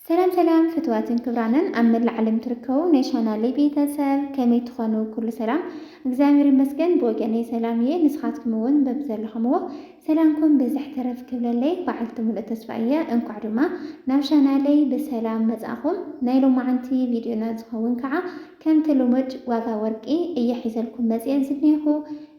ሰላም ሰላም ፍትዋትን ክብራንን ኣብ መላእ ዓለም ትርከቡ ናይ ቻናለይ ቤተሰብ ከመይ ትኾኑ? ኩሉ ሰላም እግዚኣብሔር ይመስገን ብወገነይ ሰላም እየ። ንስኻትኩም እውን በብዘለኹምዎ ሰላምኩም ብዝሕ ተረፍ ክብለለይ በዓልቲ ሙሉእ ተስፋ እየ። እንኳዕ ድማ ናብ ቻናለይ ብሰላም መጻእኹም። ናይ ሎማዓንቲ ቪድዮና ዝኸውን ከዓ ከምቲ ልሙድ ዋጋ ወርቂ እየ ሒዘልኩም መጽየ ዝኔኹ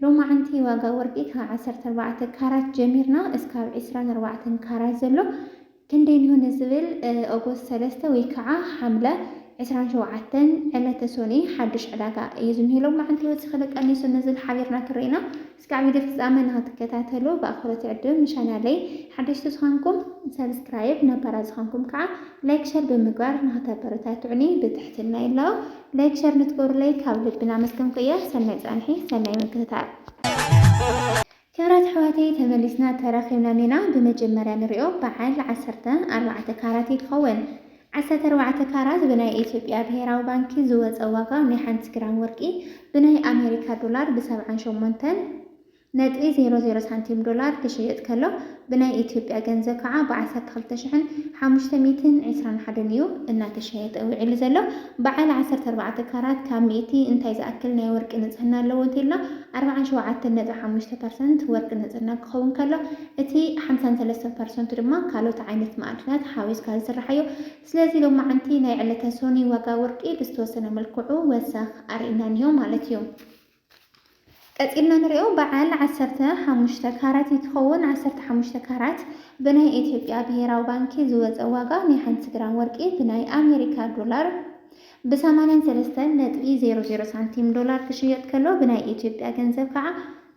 ሎማዓንቲ ዋጋ ወርቂ ካብ ዓሰርተ ኣርባዕተ ካራት ጀሚርና እስካብ ዕስራን ኣርባዕተን ካራት ዘሎ ክንደይ እንሆ ንዝብል ኦጎስት ሰለስተ ወይ ክዓ ሓምለ ዕስራን ሸውዓተን ዕለተ ሶኑይ ሓዱሽ ዕዳጋ እዩ ዝንሆ ሎማዓንቲ ወሲኹ ዶ ቀኒሱ ንዝብል ሓቢርና ክንርኢ ኢና እስካብ ቪድዮ ፍፃመ ንክትከታተሉ ብኣኽብሮት ይዕድም ንቻናለይ ሓደሽቲ ዝኾንኩም ሰብስክራይብ ነባራት ዝኾንኩም ክዓ ላይክ ሸር ብምግባር ንክተበረታትዑኒ ብትሕትና ይላቦ ላይክ ሸር ንትገብሩለይ ካብ ልቢ ናመስገንኩ እየ ሰናይ ፃንሒ ሰናይ ምክትታል ክብራት ኣሕዋተይ ተመሊስና ተራኺብና ኔና ብመጀመርያ ንሪኦ በዓል ዓሰርተ ኣርባዕተ ካራት እዩ ክኸውን ዓሰርተ ኣርባዕተ ካራት ብናይ ኢትዮጵያ ብሄራዊ ባንኪ ዝወፀ ዋጋ ናይ ሓንቲ ግራም ወርቂ ብናይ ኣሜሪካ ዶላር ብሰብዓን ሸሞንተን ነጥቢ ዜሮ ዜሮ ሳንቲም ዶላር ክሽየጥ ከሎ ብናይ ኢትዮጵያ ገንዘብ ከዓ ብ ዓሰርተ ክልተ ሽሕን ሓሙሽተ ሚእትን ዕስራን ሓደን እዩ እናተሸየጠ ውዒሉ ዘሎ። በዓል ዓሰርተ ኣርባዕተ ካራት ካብ ሚእቲ እንታይ ዝኣክል ናይ ወርቂ ንፅህና ኣለዎ እንተኢልና ኣርብዓን ሸውዓተን ነጥቢ ሓሙሽተ ፐርሰንት ወርቂ ንፅህና ክኸውን ከሎ እቲ ሓምሳን ሰለስተን ፐርሰንቱ ድማ ካልኦት ዓይነት መኣድናት ሓዊስካ ዝስራሕ እዩ። ስለዚ ሎማዓንቲ ናይ ዕለተ ሶኑይ ዋጋ ወርቂ ብዝተወሰነ መልክዑ ወሰኽ ኣርኢና እኒሆ ማለት እዩ። ቀጺልና ንሪኦ በዓል ዓሰርተ ሓሙሽተ ካራት እንትኸውን ዓሰርተ ሓሙሽተ ካራት ብናይ ኤትዮጵያ ብሄራዊ ባንኪ ዝወፀ ዋጋ ናይ ሓንቲ ግራም ወርቂ ብናይ ኣሜሪካ ዶላር ብ ሰማንያን ሰለስተን ነጥቢ ዜሮ ዜሮ ሳንቲም ዶላር ክሽየጥ ከሎ ብናይ ኤትዮጵያ ገንዘብ ከዓ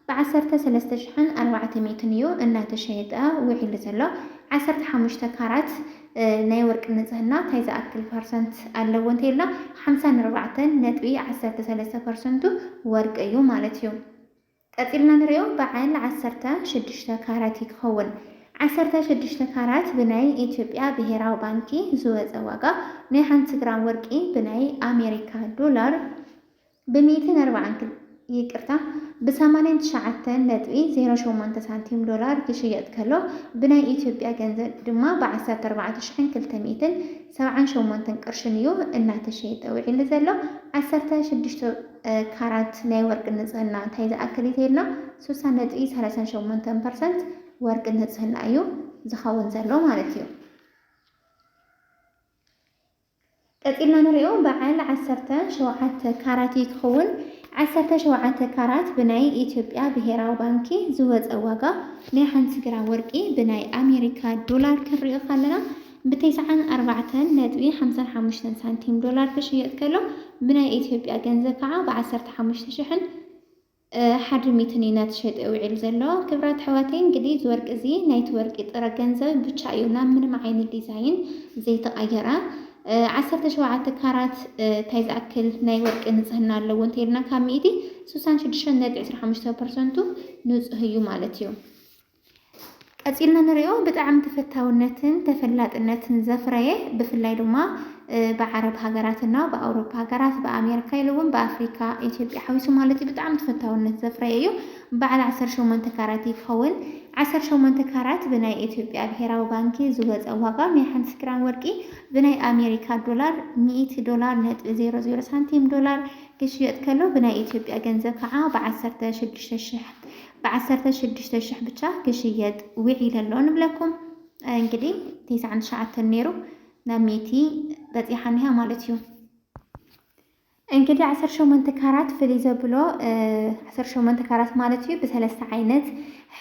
ብ ዓሰርተ ሰለስተ ሽሕን ኣርባዕተ ሚእትን እዩ እናተሸየጠ ውዒሉ ዘሎ ዓሰርተ ሓሙሽተ ካራት ናይ ወርቂ ንጽህና እንታይ ዝኣክል ፐርሰንት ኣለዎ እንተ ኢልና ሓምሳን ኣርባዕተን ነጥቢ ዓሰርተ ሰለስተ ፐርሰንቱ ወርቂ እዩ ማለት እዩ። ቀጺልና ንሪኦ በዓል ዓሰርተ ሽዱሽተ ካራት እዩ ክኸውን። ዓሰርተ ሽዱሽተ ካራት ብናይ ኢትዮጵያ ብሄራዊ ባንኪ ዝወጸ ዋጋ ናይ ሓንቲ ግራም ወርቂ ብናይ ኣሜሪካ ዶላር፣ ብ ሚእትን ኣርባዓን ክል ይቅርታ ብ ሰማንያን ትሽዓተን ነጥቢ ዜሮ ሸሞንተ ሳንቲም ዶላር ክሽየጥ ከሎ ብ ናይ ኢትዮጵያ ገንዘብ ድማ ብ ዓሰርተ ኣርባዕተ ሽሕን ክልተ ሚእትን ሰብዓን ሸሞንተን ቅርሽን እዩ እናተሸየጠ ውዒሊ ዘሎ ዓሰርተ ሽዱሽተ ካራት ናይ ወርቂ ንጽህና እንታይ ዝኣክል እዩ ተይልና ስሳ ነጥቢ ሰላሳን ሸሞንተን ፐርሰንት ወርቂ ንጽህና እዩ ዝኸውን ዘሎ ማለት እዩ። ቀጺልና ንሪኦ በዓል ዓሰርተ ሸውዓተ ካራት እዩ ክኽውን። ዓሰርተ ሸውዓተ ካራት ብናይ ኢትዮጵያ ብሄራዊ ባንኪ ዝወጸ ዋጋ ናይ ሓንቲ ግራም ወርቂ ብናይ ኣሜሪካ ዶላር ክንሪኦ ካለና ብቴስዓን ኣርባዕተን ነጥቢ ሓምሳን ሓሙሽተን ሳንቲም ዶላር ክሽየጥ ከሎ ብናይ ኢትዮጵያ ገንዘብ ከዓ ብዓሰርተ ሓሙሽተ ሽሕን ሓዲ ሚትን እዩ ነቲ ሸጢዮ ዊዒሉ ዘሎ። ክብራት ኣሕዋተይ እንግዲህ እዚ ወርቂ እዚ ናይቲ ወርቂ ጥረ ገንዘብ ብቻ እዩ ናብ ምንም ዓይነት ዲዛይን ዘይተቀየረ ዓሰርተ ሸውዓተ ካራት ታይ ዝኣክል ናይ ወርቂ ንፅህና ኣለዎ እንተይልና ካብ ሚእቲ ስሳን ሽዱሽተን ነጥቢ ዕስራ ሓሙሽተ ፐርሰንቱ ንፁህ እዩ ማለት እዩ። ቀጺልና ንሪኦ ብጣዕሚ ተፈታውነትን ተፈላጥነትን ዘፍረየ ብፍላይ ድማ ብዓረብ ሃገራት እና ብኣውሮፓ ሃገራት ብኣሜሪካ ኢሉ እውን ብኣፍሪካ ኢትዮጵያ ሓዊሱ ማለት እዩ ብጣዕሚ ተፈታውነት ዘፍረየ እዩ። በዓል 18 ካራት እዩ ክኸውን። 18 ካራት ብናይ ኢትዮጵያ ብሄራዊ ባንኪ ዝወፀ ዋጋ ናይ ሓንቲ ግራም ወርቂ ብናይ ኣሜሪካ ዶላር 100 ዶላር ነጥቢ 00 ሳንቲም ዶላር ክሽየጥ ከሎ ብናይ ኢትዮጵያ ገንዘብ ከዓ ብ16 ሽሕ ብዓሰርተ ሽዱሽተ ሽሕ ብቻ ክሽየጥ ዊዒለ ኣሎ ንብለኩም እንግዲ ቴስዓን ትሽዓተን ነይሩ ናብ ሚእቲ በፂሓ እኒሃ ማለት እዩ እንግዲህ ዓሰርተ ሸሞንተ ካራት ፍልይ ዘብሎ ዓሰርተ ሸሞንተ ካራት ማለት እዩ ብሰለስተ ዓይነት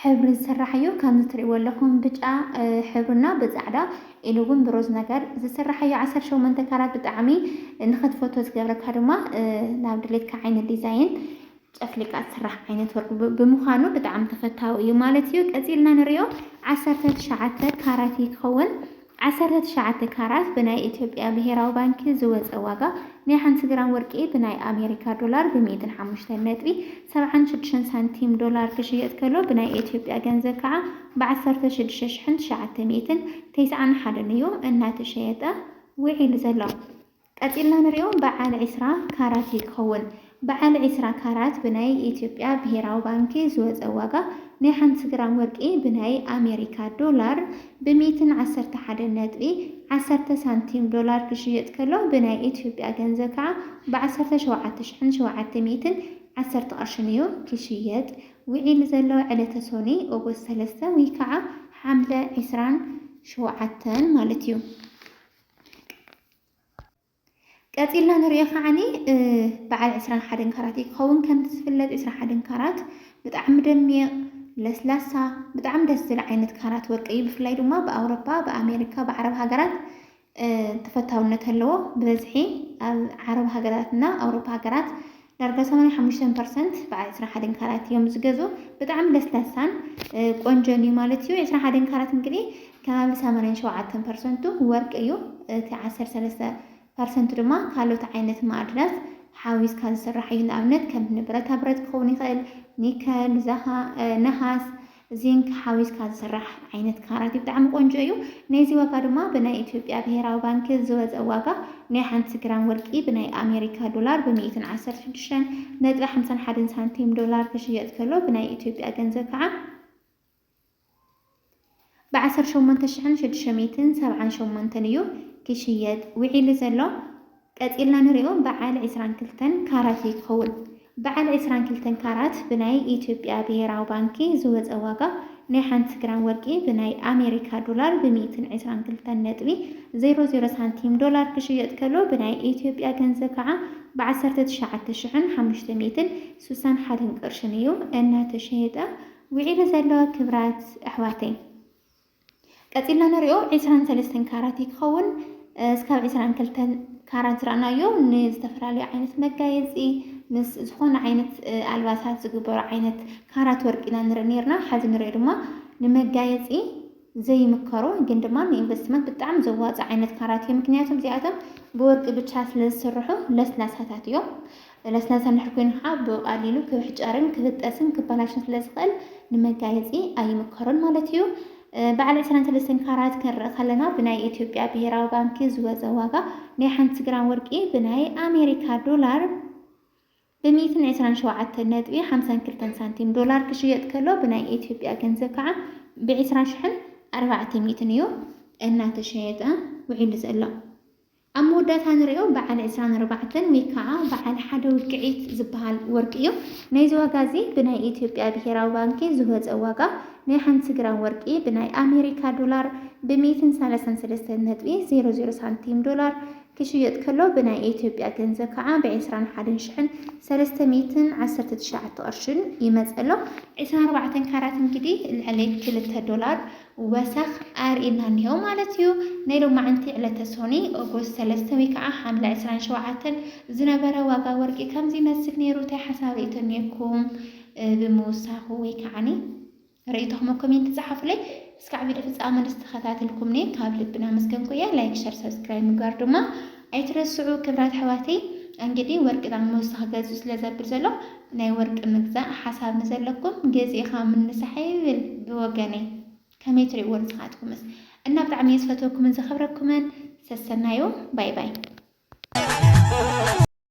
ሕብሪ ዝስራሕ እዩ ከምዚ ትሪእዎ ኣለኹም ብጫ ሕብርና ብፃዕዳ ኢሉ እውን ብሮዝ ነገር ዝስራሕ እዩ ዓሰርተ ሸሞንተ ካራት ብጣዕሚ ንክትፈቶ ዝገብረካ ድማ ናብ ድሌትካ ዓይነት ዲዛይን ጨፍሊቃ ዝስራሕ ዓይነት ወርቂ ብምዃኑ ብጣዕሚ ተፈታዊ እዩ ማለት እዩ። ቀጺልና ንሪኦ ዓሰርተ ትሽዓተ ካራት ይኸውን። ዓሰርተ ትሽዓተ ካራት ብናይ ኢትዮጵያ ብሄራዊ ባንኪ ዝወፀ ዋጋ ናይ ሓንቲ ግራም ወርቂ ብናይ ኣሜሪካ ዶላር ብሚእትን ሓሙሽተን ነጥቢ ሰብዓን ሽዱሽተን ሳንቲም ዶላር ክሽየጥ ከሎ ብናይ ኢትዮጵያ ገንዘብ ከዓ ብዓሰርተ ሽዱሽተ ሽሕን ትሽዓተ ሚእትን ተስዓን ሓደን እዩ እናተሸየጠ ውዒሉ ዘሎ። ቀጺልና ንሪኦ በዓል ዕስራ ካራት እዩ ክኸውን። በዓል ዕስራ ካራት ብናይ ኢትዮጵያ ብሄራዊ ባንኪ ዝወጸ ዋጋ ናይ ሓንቲ ግራም ወርቂ ብናይ ኣሜሪካ ዶላር ብ ሚእትን ዓሰርተ ሓደን ነጥቢ ዓሰርተ ሳንቲም ዶላር ክሽየጥ ከሎ ብናይ ኢትዮጵያ ገንዘብ ከዓ ብ ዓሰርተ ሸውዓተ ሽሕን ሸውዓተ ሚእትን ዓሰርተ ቅርሽን እዩ ክሽየጥ ውዒሉ ዘሎ ዕለተ ሶኒ ኦጎስት ሰለስተ ወይ ከዓ ሓምለ ዕስራን ሸውዓተን ማለት እዩ። ቀጺልና ንሪኦ ከዓኒ በዓል ዕስራን ሓደን ካራት እዩ ክኸውን። ከምቲ ዝፍለጥ ዕስራን ሓደን ካራት ብጣዕሚ ደሚቕ ለስላሳ ብጣዕሚ ደስ ዝብል ዓይነት ካራት ወርቂ እዩ። ብፍላይ ድማ ብኣውሮፓ፣ ብኣሜሪካ፣ ብዓረብ ሃገራት ተፈታውነት ኣለዎ። ብበዝሒ ኣብ ዓረብ ሃገራትና ኣውሮፓ ሃገራት ዳርጋ ሰማንያ ሓሙሽተ ፐርሰንት ብዓል ዕስራን ሓደን ካራት እዮም ዝገዝኡ። ብጣዕሚ ለስላሳን ቆንጆን እዩ ማለት እዩ። ዕስራን ሓደን ካራት እንግዲህ ከባቢ ሰማንያን ሸውዓተን ፐርሰንቱ ወርቂ እዩ። እቲ ዓሰርተ ሰለስተ ፐርሰንቱ ድማ ካልኦት ዓይነት ማዕድናት ሓዊስካ ዝስራሕ እዩ። ንኣብነት ከም ብረታ ብረት ክኸውን ይኽእል፣ ኒከል፣ ነሃስ፣ እዚን ሓዊስካ ዝስራሕ ዓይነት ካራት እዩ ብጣዕሚ ቆንጆ እዩ ናይዚ ዋጋ ድማ ብናይ ኢትዮጵያ ብሄራዊ ባንኪ ዝወፀ ዋጋ ናይ ሓንቲ ግራም ወርቂ ብናይ ኣሜሪካ ዶላር ብ ሚእትን ዓሰርተ ሽዱሽተን ነጥቢ ሓምሳን ሓደን ሳንቲም ዶላር ክሽየጥ ከሎ ብናይ ኢትዮጵያ ገንዘብ ከዓ ብ ዓሰርተ ሸሞንተ ሽሕን ሽዱሽተ ሚእትን ሰብዓን ሸሞንተን እዩ ክሽየጥ ውዒሉ ዘሎ። ቀጺልና ንሪኦ በዓል ዕስራን ክልተን ካራት እዩ ዝኸውን። በዓል ዕስራን ክልተን ካራት ብናይ ኢትዮጵያ ብሄራዊ ባንኪ ዝወፀ ዋጋ ናይ ሓንቲ ግራም ወርቂ ብናይ ኣሜሪካ ዶላር ብ ሚእትን ዕስራን ክልተን ነጥቢ ዜሮ ዜሮ ሳንቲም ዶላር ክሽየጥ ከሎ ብናይ ኢትዮጵያ ገንዘብ ከዓ ብ ዓሰርተ ትሽዓተ ሽሕን ሓሙሽተ ሚእትን ስሳን ሓደን ቅርሽን እዩ እናተሸየጠ ውዒሉ ዘሎ ክብራት ኣሕዋተይ። ቀጺልና ንሪኦ ዕስራን ሰለስተን ካራት እዩ ክኸውን። እስካብ ዕስራን ክልተን ካራት ዝረኣናዮ ንዝተፈላለዩ ዓይነት መጋየፂ ምስ ዝኾነ ዓይነት ኣልባሳት ዝግበሩ ዓይነት ካራት ወርቂ ኢና ንርኢ ነርና። ሓዚ ንሪኦ ድማ ንመጋየፂ ዘይምከሩ ግን ድማ ንኢንቨስትመንት ብጣዕሚ ዘዋፅ ዓይነት ካራት እዮም። ምክንያቱም እዚኣቶም ብወርቂ ብቻ ስለ ዝስርሑ ለስላሳታት እዮም። ሰለስነሰንሕ ኮይንካ ብቐሊሉ ክብሕጨርን ክብጠስን ክበላሽን ስለ ዝኽእል ንመጋየጺ ኣይምከሮን ማለት እዩ። በዓል ዕስራን ሰለስተን ካራት ክንርኢ ከለና ብናይ ኢትዮጵያ ብሄራዊ ባንኪ ዝወጸ ዋጋ ናይ ሓንቲ ግራም ወርቂ ብናይ ኣሜሪካ ዶላር ብ ሚእትን ዕስራን ሸውዓተን ነጥቢ ሓምሳን ክልተን ሳንቲም ዶላር ክሽየጥ ከሎ ብናይ ኢትዮጵያ ገንዘብ ከዓ ብ ዕስራ ሽሕን ኣርባዕተ ሚእትን እዩ እናተሸየጠ ውዒሉ ዘሎ። ኣብ መወዳእታ ንሪኦ በዓል ዕስራን ኣርባዕተን ወይ ከዓ በዓል ሓደ ውቅዒት ዝበሃል ወርቂ እዩ። ናይዚ ዋጋ እዚ ብናይ ኢትዮጵያ ብሄራዊ ባንኪ ዝወፀ ዋጋ ናይ ሓንቲ ግራም ወርቂ ብናይ ኣሜሪካ ዶላር ብ ሚእትን ሰላሳን ሰለስተን ነጥቢ ዜሮ ዜሮ ሳንቲም ዶላር ክሽየጥ ከሎ ብናይ ኢትዮጵያ ገንዘብ ከዓ ብ ዕስራን ሓደን ሽሕን ሰለስተ ሚእትን ዓሰርተ ትሽዓተ ቅርሽን ይመፅእ ኣሎ። ዕስራን ኣርባዕተን ካራት እንግዲህ ልዕሊ ክልተ ዶላር ወሰኽ ኣርእይና እኒሀው ማለት እዩ። ናይ ሎማዕንቲ ዕለተ ሶኑይ ኦጎስት ሰለስተ ወይ ከዓ ሓምለ ዕስራን ሸውዓተን ዝነበረ ዋጋ ወርቂ ከምዚ ይመስል ነይሩ እንታይ ሓሳብ ርእይቶ እኒሀኩም ብምውሳኹ ወይ ከዓኒ ርእይቶኹም ኣብ ኮሜንት ፀሓፉለይ። እስካዕ ቪድዮ ፍፃመ ምስ ተኸታተልኩምኒ ካብ ልቢ እናመስገንኩ እየ። ላይክ ሸር ሰብስክራይብ ምግባር ድማ ኣይትረስዑ ክብራት ኣሕዋተይ እንግዲ ወርቂ ናብ ሞስት ክገዝኡ ስለ ዘብል ዘሎ ናይ ወርቂ ምግዛእ ሓሳብ ንዘለኩም ገዚእካ ምንሳሕ ይብል ብወገነይ ከመይ ትሪእዎ ንስካትኩምስ እና ብጣዕሚ እየ ዝፈትወኩምን ዘክብረኩምን ሰሰናዩ ባይ ባይ።